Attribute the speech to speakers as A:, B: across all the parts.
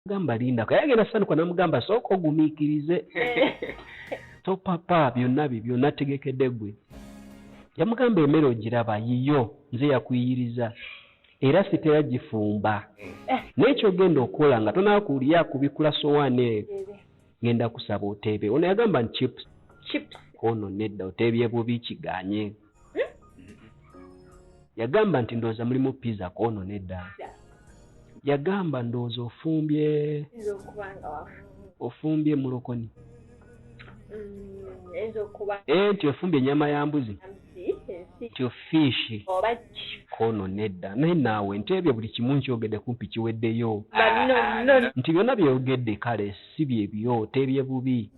A: gamba linda ko yagenda sanuka namugamba sooka ogumiikirize topapa byonna bibyo nategekedde gwe yamugamba emere ogiraba yiyo nze yakuyiriza era sitera gifumba naye kyogenda okola nga tonakuliya kubikula sowaani eyo Ngenda kusaba oteebe. Ono yagamba nti chips. Chips. Ono nedda oteebye bubi kiganye. Hmm? Yagamba nti ndowooza mulimu pizza kono nedda. Yagamba ndowooza ofumbye. Ofumbye mulokoni. Mm, eh, nti ofumbye enyama ya mbuzi. kyo fiishi kono nedda naye naawe nti ebyo buli kimu nkyogedde kumpi kiweddeyo nti byonna byeyogedde kale si byebyo teebye bubi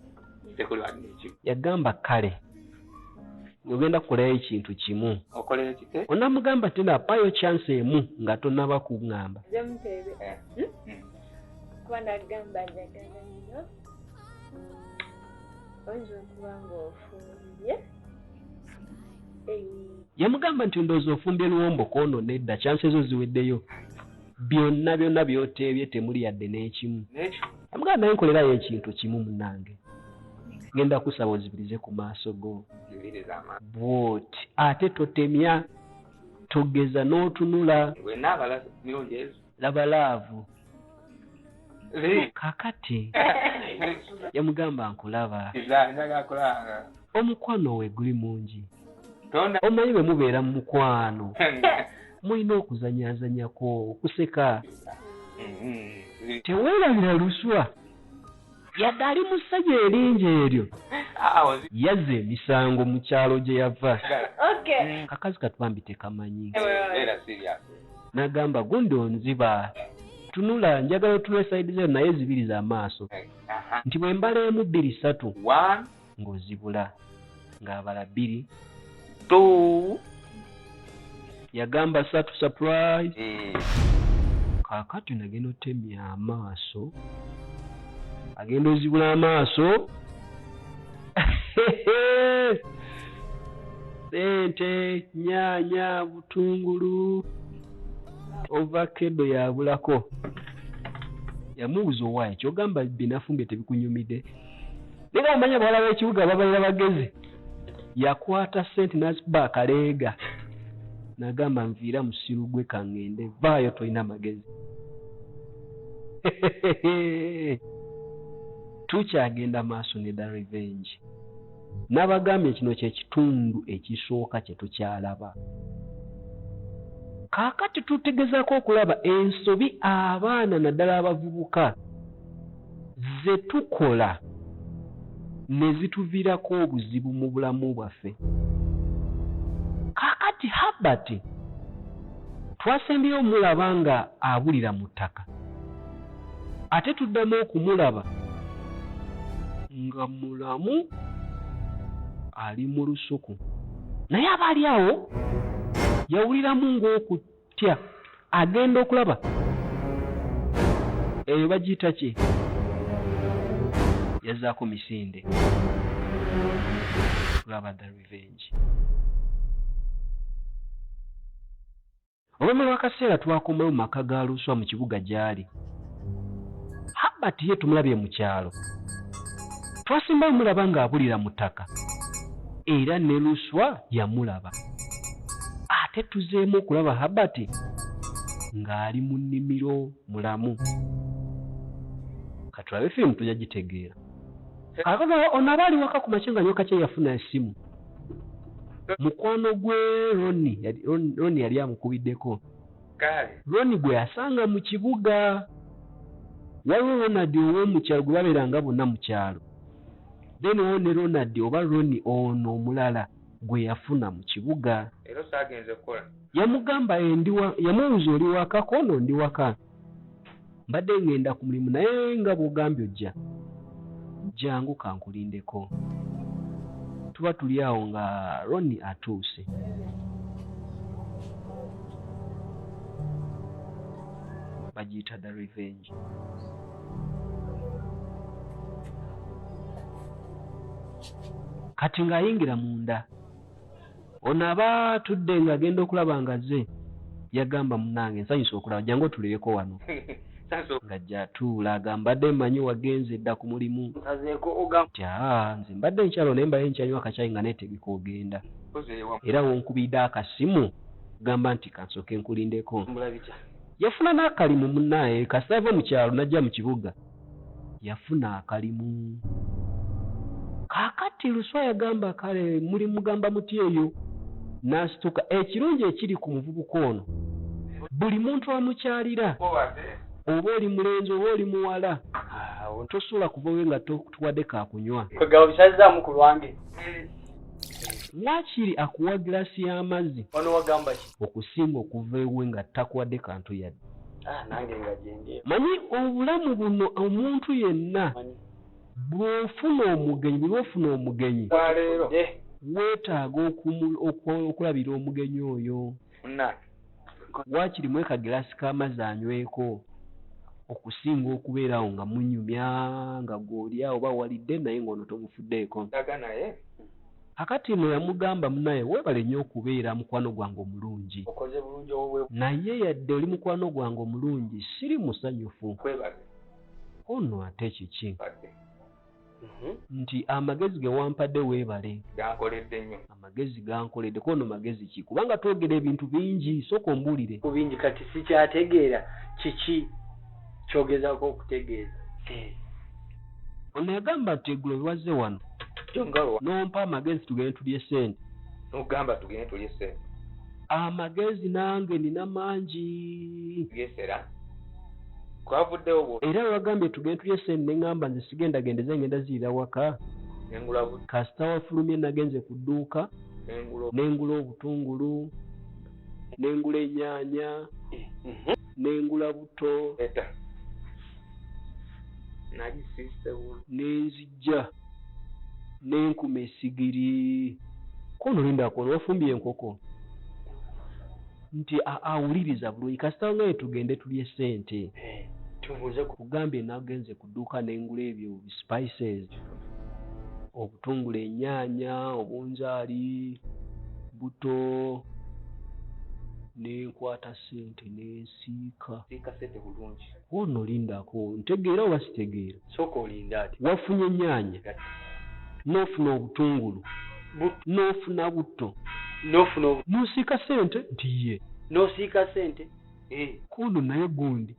A: yagamba kale ogenda kukolayo ekintu kimu onamugamba ti napayo chance emu nga tonaba kungamba oyinza okuba ngaofumbye yamugamba nti ndoozi ofumbye luwombo kwono nedda kyansi ezo ziweddeyo byonna byonna byoteebye temuli yadde n'ekimu yamugamba naye nkolerayo ekintu kimu munange ngenda kusaba ozibirize ku maaso go bwoti ate totemya togeza n'otunula laba laavu kakati yamugamba nkulaba omukwano we guli mungi omanyi bwe mubeera mu mukwano mulina okuzanyazanyako okuseka mm-hmm. teweerabira luswa Yadde ali mu ssanyu eringi eryo, yazza emisango mu kyalo gye yava. Akakazi kati bambi tekamanyi. N'agamba, Gundi onziba. Tunula, njagala otunule side zino naye zibiri za maaso. Nti bwe mbala emu, bbiri, ssatu. ng'ozibula ng'abala bbiri to yagamba satu surprise eh. kakati nagenda otemya amaaso agenda ozibula amaaso sente nyanya butungulu ovakedo yabulako yamubuza owaye kyogamba binafumbye tebikunyumide Nigamba nya bwala w'ekibuga babalira bagezi yakwata sente nazikuba akaleega nagamba nviira musiru gwe kangende vaayo tolina magezi tukyagenda maaso ne da revenge nabagambye kino kyekitundu ekisooka kyetukyalaba kaakati tutegezako okulaba ensobi abaana naddala abavubuka zetukola nezituvirako obuzibu mubulamu bwaffe kakati Herbert twasembyeyo mulaba nga abulira muttaka ate tuddamu okumulaba nga mulamu ali mulusuku naye aba ali awo yawuliramu nga tya agenda okulaba eyo bagiyita ki yazaako misinde laba the revenge olwama lwakaseera twakomayo mu maka ga luswa mu kibuga gyali habert ye tumulabye mu kyalo twasembayo mulaba ng'abulira mu ttaka era ne luswa yamulaba Ate tuzeemu okulaba Herbert ng'ali mu nnimiro mulamu. Katulabe firimu tujja gitegeera. Akagala ono aba ali waka ku makya nga nyoka kye yafuna esimu. Mukwano gwe Roni Roni yali amukubiddeko. Roni gwe yasanga mu kibuga. Waliwo Ronald ow'omukyalo gwe babeeranga bonna mu kyalo. Then waliwo ne Ronald oba Roni ono omulala. gwe yafuna mu kibuga. Leero saagenze kukola. Yamugamba ye ndi wa, yamubuuza oli waka? Koono ndi waka. Mbadde ngenda ku mulimu naye nga bw'ogambye ojja. Jangu kankulindeko. Tuba tuli awo nga Ronnie atuuse. Bagiyita The Revenge. kati ng'ayingira munda ono aba tudde ng'agenda okulaba nga ze yagamba munange nsanyusa okulaba jangu otulireko wano nga jatuula agambadde manyi wagenze edda ku mulimu tyaa nze mbadde nkyalo naye mbaye nkyanywa akakyayi nga netegeka ogenda era wonkubidde akasimu gamba nti kansoke nkulindeko Yafuna n'akalimu munnaye kasita yava mu kyalo n'ajja mu kibuga yafuna akalimu. Kaakati Luswa yagamba kale mulimugamba mutya eyo n'asituka. Ekirungi ekiri ku muvubuka ono buli muntu amukyalira oba oli mulenzi oba oli muwala tosobola kuva we nga tokutuwadde ka kunywa. Kwegamba bukyazizaamu ku lwange. Wakiri akuwa glass y'amazzi. Wano wagamba ki? Okusinga okuva ewe nga takuwadde kantu yadde. Ah, nange nga gyendi. Manyi obulamu buno omuntu yenna bw'ofuna omugenyi buli lw'ofuna omugenyi wetaaga okulabira omugenyi oyo. munnange waakiri mu ekagiraasi k'amazzi anyweko okusinga okubeera awo nga munyumya nga gw'oli awo oba walidde naye ng'ono tomufuddeeko aga naye kakati no yamugamba munaye webale nyo okubeera mukwano gwange omulungi naye yadde oli mukwano gwange omulungi siri musanyufu ono ate kiki Mhm. nti amagezi ge wampadde weebale gankoledde nnyo amagezi gankoledde kuba no magezi ki kubanga twogera ebintu bingi sooka ombuulire ku bingi kati
B: sikyategeera kiki kyogezako okutegeeza eh.
A: ono yagamba nti egulo biwazze wano n'ompa amagezi tugende tulye sente nogamba tugende
C: tulye sente amagezi
A: nange nina mangi gesera
C: kwavuddewo bwo era wagambye
A: tugende tulye sente ne ngamba nze sigenda genda eza ngenda ziyira waka kasita wafulumye nagenze ku dduuka nengula obutungulu nengula enyaanya mhm. nengula buto nenzija Jja n'enkuma essigiri. K'ono lindako ono wafumbye enkoko nti awuliriza bulungi kasita ngambye tugende tulye ssente nkugambye nagenze ku dduuka ne ngula ebyo bi spices obutungulu ennyaanya obunzaali buto ne nkwata ssente ne nsiika. K'ono lindako ntegeera oba sitegeera? sooka olinde ati.
B: Wafunye ennyaanya,
A: n'ofuna obutungulu, n'ofuna butto, n'osiika ssente nti ye. N'osiika ssente,
B: eh. K'ono
A: naye gundi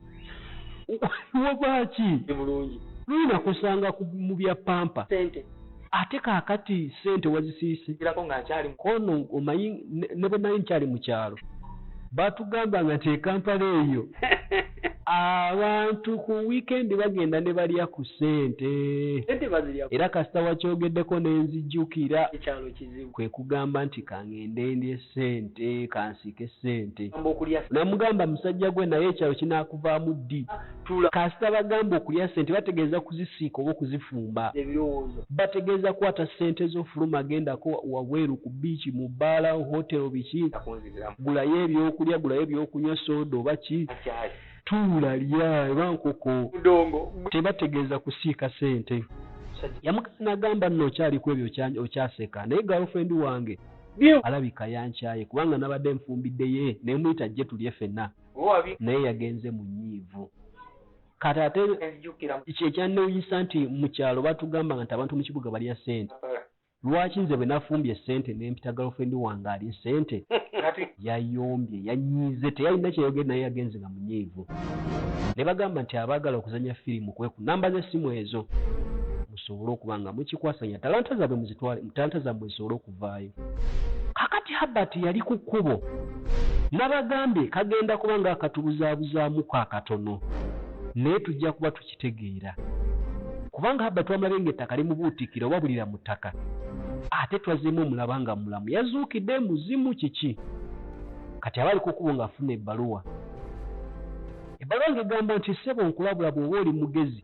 A: wava ki? Ndi bulungi. Lumu
B: nakusanga
A: mu bya pampa. Ssente. Ate
B: kakati
A: sente wazisiyisigirako nga nkyali mu. Ono omanyi ne bwenali nkyali mu kyalo batugambanga nti ekampala eyo abantu ku weekend bagenda ne balya ku sente era kasita wakyogeddeko nenzijukira
B: kwekugamba nti
A: kangende ndye sente kansiike sente namugamba musajja gwe naye ekyalo kinakuvaamu ddi. tula. Kasita bagamba okulya sente bategeeza kuzisiika oba okuzifumba. Ebirowoozo. Bategeeza kwata sente zo fuluma gendako wabweru ku biici, mu bbaala, hotel biki. Takunzibiramu. Gulayo ebyokulya, gulayo ebyokunywa, soda oba ki. Akyaali. Tuula, lya eba nkoko. Mudongo. Tebategeeza kusiika sente. Musajja. Yamukaka nagamba nno okyali kwebyo okyaseka naye girlfriend wange alabika yankyaye kubanga nabadde nfumbidde yee nemuyita ajje tulye fenna. naye yagenze mu nyiivu kati ate kyekyannewunyisa nti mu kyalo batugambanga nti abantu mu kibuga balya sente eh. lwaki nze bwe nafumbye esente nempita galofendi wange alye sente yayombye yanyiize teyalina kyeyogere naye yagenze nga munyiivu ne bagamba nti abaagala okuzanya firimu kweku namba z'essimu ezo musobole okuba nga mukikwasanya talanta zaabwe muzitwale talanta zaabwe zisobole okuvaayo. Kakati Herbert yali ku kkubo, nabagambye kagenda kuba nga akatubuzabuzaamuko akatono, naye tujja kuba tukitegeera, kubanga Herbert wamulabye nga ettaka limubuutikira oba bulira mu ttaka, ate twazzeemu omulaba nga mulamu, yazuukidde, muzimu kiki? Kati aba ali ku kkubo nga afuna ebbaluwa. Ebbaluwa nga egamba nti, ssebo nkulabula bwoba oli mugezi,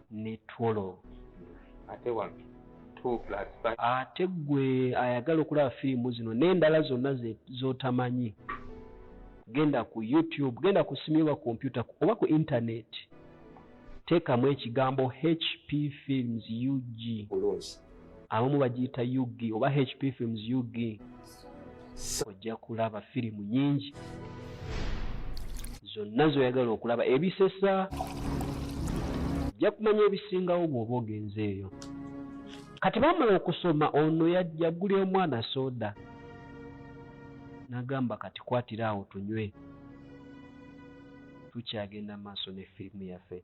A: ne twolo
C: ate wano ate gwe
A: ayagala okulaba firimu zino n'endala zonna z'otamanyi genda ku youtube genda ku simu oba kompyuta oba ku internet teekamu ekigambo hp films ug
C: abamu bagiyita
A: ug oba hp films ug ojja kulaba firimu nyingi zonna zoyagala okulaba ebisesa ojja kumanya ebisingawo bwoba ogenze eyo kati bamala okusoma ono yagulira omwana soda nagamba kati kwatira awo tunywe tukyagenda maaso ne firimu yaffe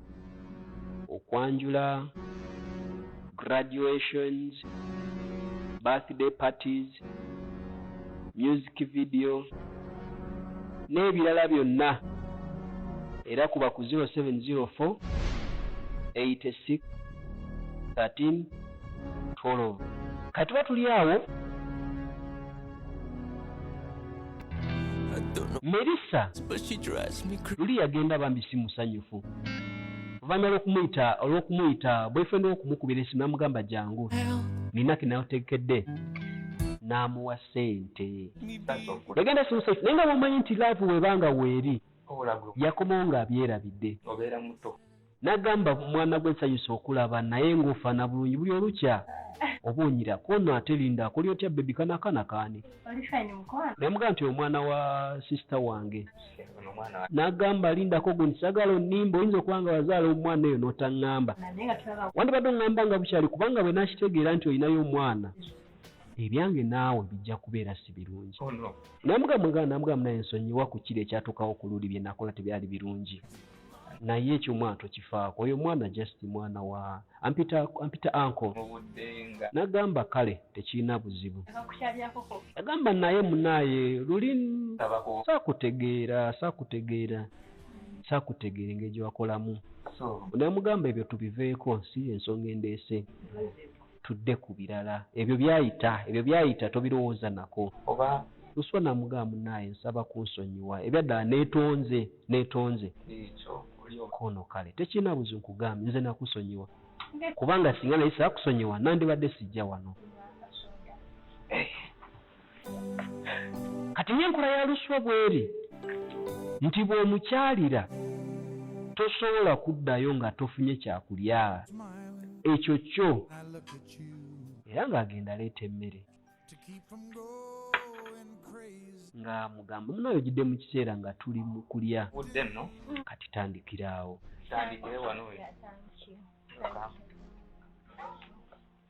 A: okwanjula, graduations, birthday parties, music video n'ebirala byonna era kuba ku zero seven zero four eighty six thirteen Twolovu. Kati tuba tuli awo. Melissa luli yagenda bambi si musanyufu oluvannyuma lw'okumuyita olw'okumuyita boyfriend w'okumukubira esimu namugamba jangu nina kenategekedde n'amuwa ssente yagenda si musanyufu naye nga bwomanyi nti laavu webanga weeri yakomawo ng'abyerabidde.
C: Nagamba
A: mwana gwe nsanyuse okulaba naye nga ofana bulungi buli olukya oba onyira kono ate linda akole otya baby kano akana kani. Namugamba nti oyo mwana wa sister wange nagamba lindako gundi sagala onimba oyinza okuba nga wazaala omwana eyo notangamba wandibadde ongamba nga bukyali kubanga bwe nakitegeera nti olinayo omwana ebyange naawe bijja kubeera si birungi oh, namugamwegana namugamu naye nsonyiwa ku kiri ekyatukawo ku luli bye nakola tebyali birungi naye ekyo omwana tokifaako oyo mwana just mwana wa ampita ampita anko nagamba kale tekirina buzibu agamba naye munaye luli sakutegeera sakutegeera sakutegeera engeri gyewakolamu namugamba ebyo tubiveeko si ensonga endeese tudde ku birala ebyo byayita ebyo byayita tobirowooza nako oba luswa namugamba munaye nsaba kunsonyiwa ebyaddala netonze netonze ekyo olyoka ono kale tekirina buzibu nkugambye nze nakusonyiwa kubanga singa nali sakusonyiwa nandibadde sijja wano. kati ng'enkola ya luswa bw'eri nti bw'omukyalira tosobola kuddayo nga tofunye kyakulya ekyo kyo era ng'agenda aleeta emmere nga mugamba munayo gidde mu kiseera nga tuli mu kulya kati tandikiraawo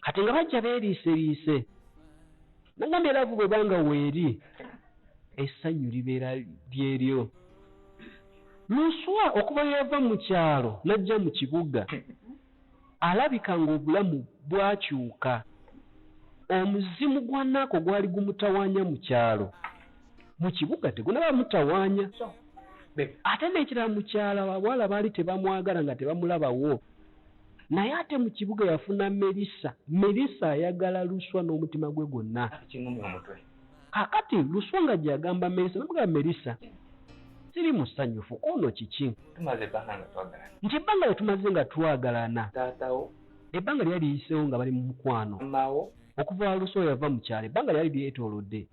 A: kati nga bajja beeriiseriise nagambye laavu bwe banga weeri essanyu libeera lyeryo luswa okuba yava mu kyalo n'ajja mu kibuga alabika ng'obulamu bwakyuka omuzimu gwa naako gwali gumutawaanya mu kyalo mu kibuga tegunaba mutawaanya ate n'ekirala mukyala abawala baali tebamwagala nga tebamulabawo Naye ate mu kibuga yafuna Melissa. Melissa ayagala Luswa n'omutima gwe gwonna. Kati kingumya omutwe. Kakati Luswa nga gyagamba Melissa namugamba Melissa siri musanyufu kwono kiki? Tumaze ebbanga nga twagalana. Nti ebbanga lyetumaze nga twagalana. Taatawo. Ebbanga lyali liyisewo nga bali mu mukwano. Maamawo. Okuva Luswa yava mu kyalo ebbanga lyali lyetolodde.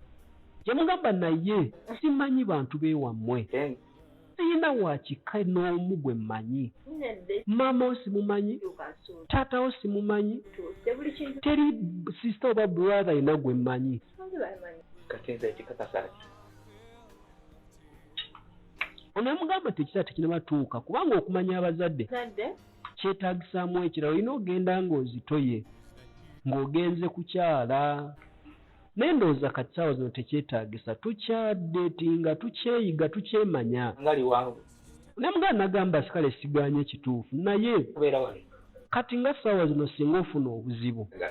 A: Yamugamba naye simanyi bantu bewammwe. Then. Siyina wa kika n'omu gwe mmanyi. Maama wo simumanyi. Taata wo simumanyi. Teri sisita oba brother yena gwe mmanyi. Kati
C: nze ekikakasa ki?
A: Ono yamugamba nti ekiseera tekinaba tuuka kubanga okumanya abazadde kyetagisaamu ekirala olina ogenda ng'ozitoye ng'ogenze kukyala. Naye ndowooza kati saawa zino tekyetagisa tukya datinga tukyeyiga tukyemanya. Ngali wangu.
C: Naye muganda nagamba
A: sikale siganye kituufu naye. Kubera
C: wano. Kati nga saawa
A: zino singa ofuna obuzibu. Nga.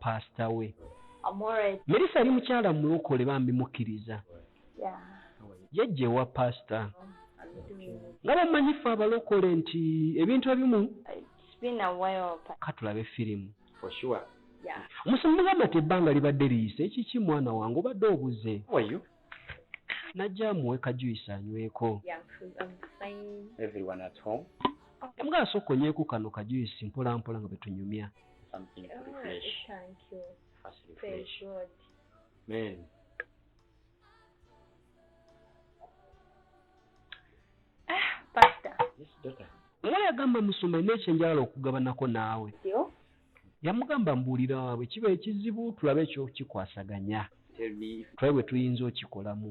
A: pastor we merisa yali mukyala mulokole bambi mukkiriza yajja ewa pastor nga bamanyi fe abalokole nti ebintu ebimu katulabe firimu omusomugamba ti ebbanga libadde liyise ekiki mwana wange obadde obuze najja amuwe kajuyisi anyweko mbwa asooka onyweko kano kajuyisi mpolampola nga bwetunyumya
D: ah,
E: oba yagamba
A: musumba nina ekyenjagala okugabanako naawe Yamugamba mbuulira bwe kiba ekizibu tulabe eky'okikwasaganya tulabe
E: bwe tuyinza okikolamu.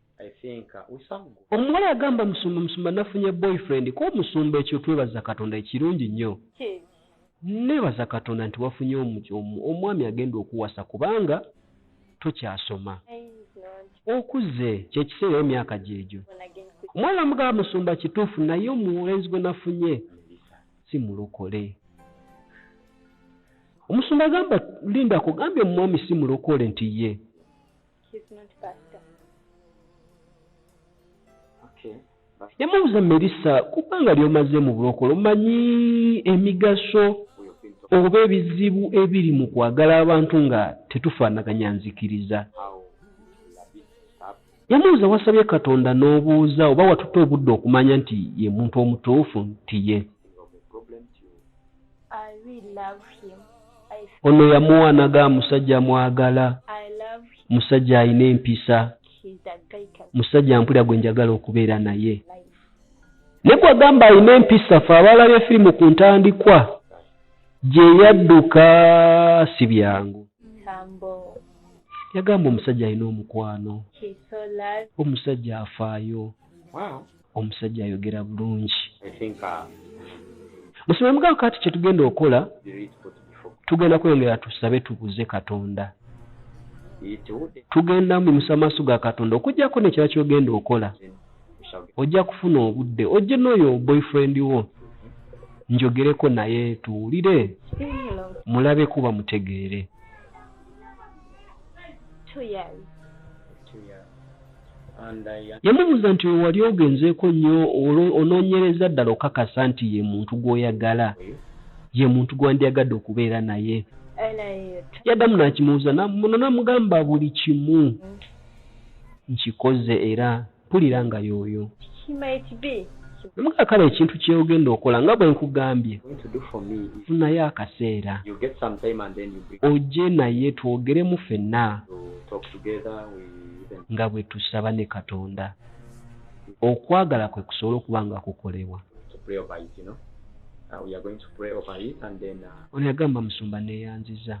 E: Omuwala agamba musumba
A: musumba nafunye boyfriend ko musumba ekyo twebaza katonda ekirungi nnyo.
D: Nebaza
A: katonda nti wafunye omwami agenda okuwasa kubanga tokyasoma.
D: Okuze kyekiseera
A: era emyaka gyegyo. Omuwala
D: amugamba musumba
A: kituufu naye omulenzi gwe nafunye si mulokole. Omusumba agamba linda akugambye omwami si mulokole nti ye.
D: He's
E: not pastor. Okay. Nemubuuza Melissa
A: ku bbanga ly'omaze mu bulokole omanyi emigaso
E: oba ebizibu
A: ebiri mu kwagala abantu nga tetufaanaganya nzikiriza.
E: Yamubuuza wasabye
A: Katonda n'obuuza oba watutte obudde okumanya nti ye muntu omutuufu nti ye.
D: ono
A: yamuwa naga musajja mwagala
D: musajja alina empisa musajja mpulira gwe njagala
A: okubeera naye
D: ne
A: gwagamba alina empisa fe abaalabye firimu ku ntandikwa gye yadduka si byangu
D: yagamba
A: omusajja alina omukwano
D: omusajja afaayo
E: omusajja ayogera
A: bulungi musome mugabo kati kyetugenda okola
E: tugenda kweyongera
A: tusabe tubuze katonda
E: tugenda mubimusa amaaso
A: ga katonda okujjako nekyala kyogenda okola
E: ojja kufuna obudde
A: ojje noyo boyfriend wo njogereko naye tuwulire
D: mulabe kuba
A: mutegeere
E: Yamubuuza nti, Oyo wali
A: ogenzeeko nnyo onoonyereza ddala okukakasa nti ye muntu gw'oyagala, ye muntu gwe wandyagadde okubeera naye?
D: Yaddamu n'akimubuuza
A: muno n'amugamba, Buli kimu nkikoze era mpulira nga y'oyo.
D: Namugamba, Kale ekintu
A: kye ogenda okola nga bwe nkugambye,
E: funayo akaseera ojje naye
A: twogeremu ffenna.
E: nga bwe tusaba ne
A: Katonda okwagala kwe kusobola okuba nga kukolebwa. Uh,
E: uh, ono yagamba musumba
A: neyanziza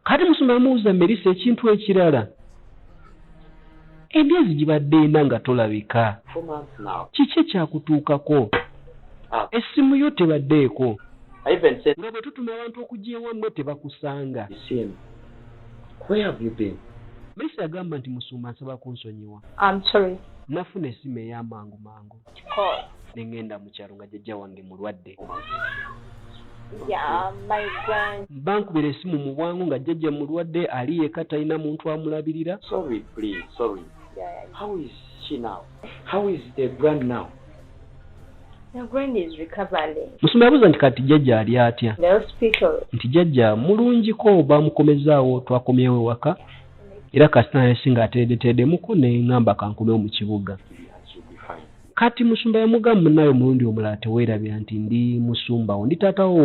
E: kati
A: musumba amuwuza merisa ekintu ekirala Emyezi gibadde ena nga tolabika.
E: Kiki ekyakutuukako?
A: Essimu yo tebaddeeko?
E: Nga bwe tutuma abantu okujja
A: ewammwe tebakusanga?
E: Mercy agamba
A: nti, Musumba nsaba kunsonyiwa. Nafuna
D: essimu
A: ey'amangu mangu. ne
D: ŋŋenda mu kyalo
A: nga jjajja wange mulwadde
D: bankubira esimu mu
A: bwangu nga jjajja mulwadde ali yeka talina muntu amulabirira
D: musumba yabuuza nti kati
A: jjajja ali atya
D: nti jjajja
A: mulungiko bamukomezaawo twakomyewo ewaka era kasita naye singa ateredeteredemuko ne ŋŋamba kankomewo mu kibuga
E: Kati
A: musumba yamuga munaye omulundi omulala tewerabira nti ndi musumbawo ndi taata wo